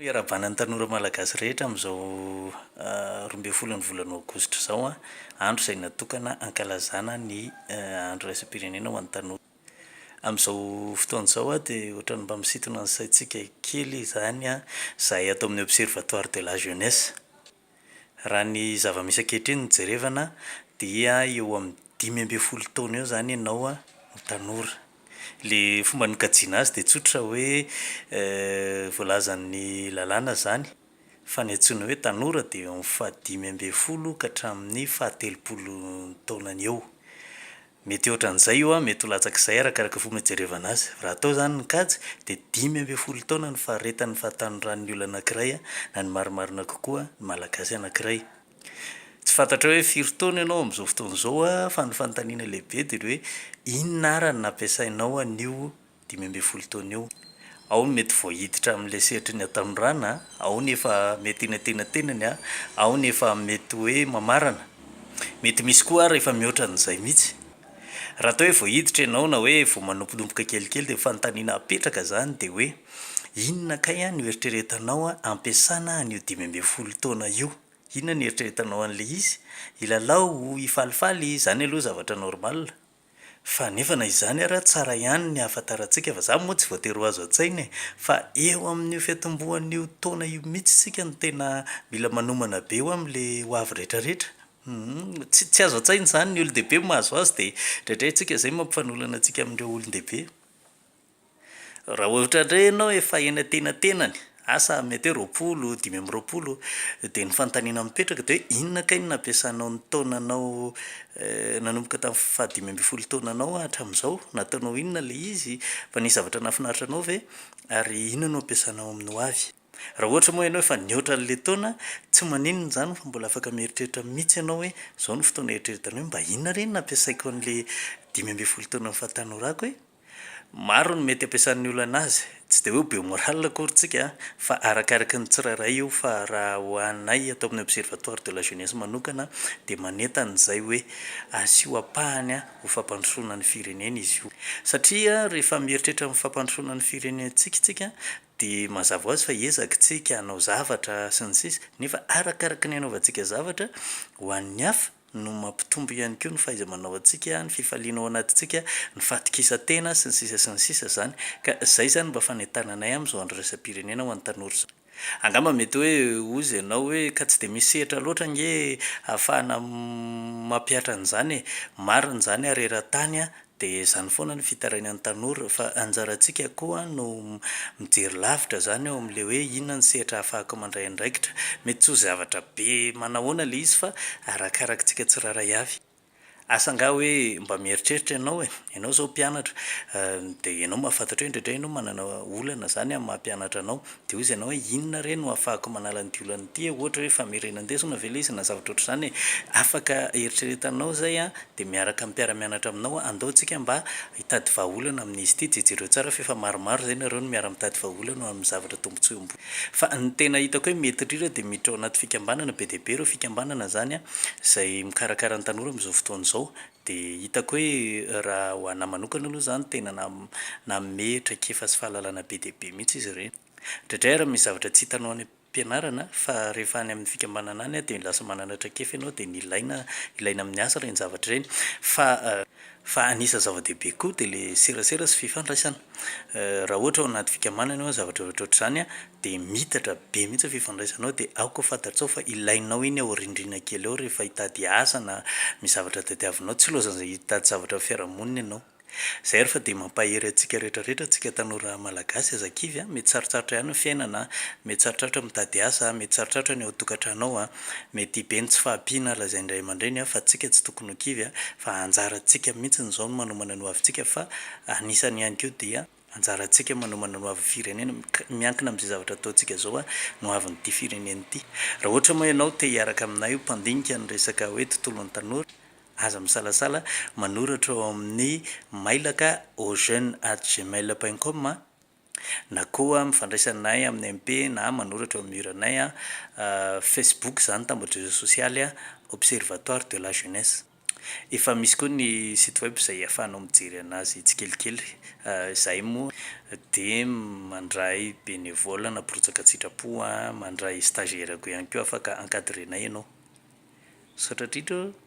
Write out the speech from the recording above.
Iarahabana ny tanora malagasy rehetra amin'izao roa ambin'ny folo ny volana aogositra izao, andro izay natokana hankalazana ny andro iraisam-pirenena ho an'ny tanora. Amin'izao fotoana izao dia ohatran'ny mba misintona ny saintsika kely izany izahay ato amin'ny Observatoire de la Jeunesse. Raha ny zava-misy ankehitriny no jerevana dia eo amin'ny dimy ambin'ny folo taona eo izany ianao no tanora. Ilay fomba nokajiana azy dia tsotra hoe voalazan'ny lalàna izany fa ny antsoina hoe tanora dia eo amin'ny fahadimy ambin'ny folo ka hatramin'ny fahatelopolo taonany eo. Mety ohatran'izay io an, mety ho latsak'izay arakaraka fomba ijerevana azy. Raha atao izany ny kajy dia dimy ambin'ny folo taona ny faharetan'ny fahatanorran'ny olona anankiray an, na ny marimarina kokoa, ny Malagasy anankiray. Tsy fantatrao hoe firy taona ianao amin'izao fotoana izao an, fa ny fanontaniana lehibe dia ny hoe inona ara no nampiasainao an'io dimy ambin'ny folo taona eo. Ao ny mety vao hiditra amin'ilay sehatry ny hatanorana, ao ny efa mety eny an-tenatenany, ao ny efa mety hoe mamarana. Mety misy koa ary efa mihoatra an'izay mihitsy. Raha atao hoe vao hiditra ianao na hoe vao manomponompoka kelikely dia ny fanontaniana apetraka izany dia hoe inona kay no eritreretanao hampiasana an'io dimy ambin'ny folo taona io? Inona no eritreretanao an'ilay izy? Hilalao? Hifalifaly? Izany aloha zavatra normal. Fa nefa na izany ara tsara ihany ny ahafantarantsika fa zany moa tsy voatery ho azo an-tsaina e! Fa eo amin'io fiantombohan'io taona io mitsy isika no tena mila manomana be ho am le ho avy retraretra. Humm tsy tsy azo an-tsaina izany ny olon-dehibe mahazo azy dia indraindray antsika izay mampifanolana antsika amin'ireo olon-dehibe. Raha ohatra indray ianao efa eny antenatenany, asa mety hoe roapolo, dimy amby roapolo, dia ny fanontaniana mipetraka dia hoe inona kay no nampiasanao ny taonanao nanomboka tamin'ny faha dimy ambin'ny folo taonanao hatramin'izao? Nataonao inona ilay izy? Fa nisy zavatra nahafinaritra anao ve? Ary inona no ampiasanao amin'ny ho avy? Raha ohatra moa ianao efa nihoatra an'ilay taona, tsy maninona izany fa mbola afaka mieritreritra mihitsy ianao hoe izao no fotoana hieritrereta ny hoe mba inona re no nampiasaiko an'ilay dimy ambin'ny folo taonan'ny fahatanorako e? Maro ny mety ampiasan'ny olana azy, tsy dia hoe be morale akory tsika an, fa arakaraky ny tsirairay io fa raha ho anay ato amin'ny Observatoire de la Jeunesse manokana dia manentana izay hoe asio ampahany ho fampandrosoana ny firenena izy io satria rehefa mieritreritra ny fampandrosoana ny firenentsika tsika dia mazava ho azy fa ezaka tsika hanao zavatra sy ny sisa nefa arakaraky ny hanaovantsika zavatra ho an'ny hafa no mampitombo ihany koa ny fahaiza-manao antsika, ny fifaliana ao anatintsika, ny fahatokisan-tena sy ny sisa sy ny sisa izany ka izay izany mba fanentananay amin'izao andraisam-pirenena ho an'ny tanora izao. Angamba mety hoe hozy ianao hoe ka tsy dia misy sehatra loatra ange ahafahana mampihatra an'izany e! Marina izany ary eran-tany Dia izany foana no fitarainan'ny tanora, fa anjarantsika koa no mijery lavitra izany eo amin'ilay hoe inona ny sehatra ahafahako mandray andraikitra. Mety tsy ho zavatra be manahoana ilay izy fa arakarak'tsika tsirairay avy. Asa angaha hoe mba mieritreritra ianao e, ianao izao mpianatra, dia ianao mahafantatra hoe indraindray ianao manana olana izany amin'ny maha mpianatra anao, Dia hoy izy anao hoe inona re no ahafahako manala an'ity olana ity e? Ohatra hoe famerenan-desona ve ilay izy na zavatra ohatr'izany e? Afaka eritreretanao izay an! Dia miaraka amin'ny mpiara-mianatra aminao an, andao isika mba hitady vahaolana amin'izy ity. Jejereo tsara fa efa maromaro izay nareo no miara-mitady vahaolana ho amin'ny zavatra tombontsoam-bola. Fa ny tena hitako hoe mety indrindra dia miditra ao anaty fikambanana be dia be ireo fikambanana izany an, izay mikarakara ny tanora amin'izao fotoana izao. Dia hitako hoe raha ho an'ahy manokana aloha izany tena nanome traikefa sy fahalalana be dia be mihitsy izy ireny. Indraindray ary misy zavatra tsy hitanao any am-pianarana fa rehefa any amin'ny fikambanana any dia lasa manana traikefa ianao dia nilaina ilaina amin'ny asa ireny zavatra ireny. Fa fa anisan'ny zava-dehibe koa dia ilay serasera sy fifandraisana. Raha ohatra ao anaty fikambanana ianao zavatra ohatrohatr'izany dia miitatra be mihitsy ny fifandraisanao dia aoka fantatrao fa ilainao iny aorindrina kely ao rehefa hitady asa na misy zavatra tadiavinao, tsy loazan'izay hitady zavatra amin'ny fiarahamonina ianao. Izay ary fa dia mampahery antsika rehetra rehetra antsika tanora malagasy aza kivy a, mety sarotrarotra ihany ny fiainana a, mety sarotrarotra ny mitady asa a, mety sarotrarotra ny ao an-tokantrano ao a, mety be ny tsy fahampiana lazain'ny ray aman-dreny a, fa tsika tsy tokony ho kivy a, fa anjarantsika mihitsy izao ny manomana ny hoavintsika fa anisany ihany koa dia Anjarantsika manomana ny ho avin'ny firenena miankina amin'izay zavatra ataontsika izao ny ho avin'ity firenena ity. Raha ohatra moa ianao te hiaraka aminay ho mpandinika ny resaka hoe tontolon'ny tanora, aza misalasala manoratra ao amin'ny mailaka auxjeunes@gmail.com na koa mifandraisa aminay amin'ny MP na manoratra eo amin'ny mur anay Facebook izany, tambajozo sosialy, Observatoire de la Jeunesse. Efa misy koa ny site web izay ahafahanao mijery anazy tsikelikely. Izahay moa dia mandray bénévole na mpirotsaka an-tsitrapo, mandray stagiaires-ko ihany koa afaka encadrer-nay ianao. Misaotra indrindra ô!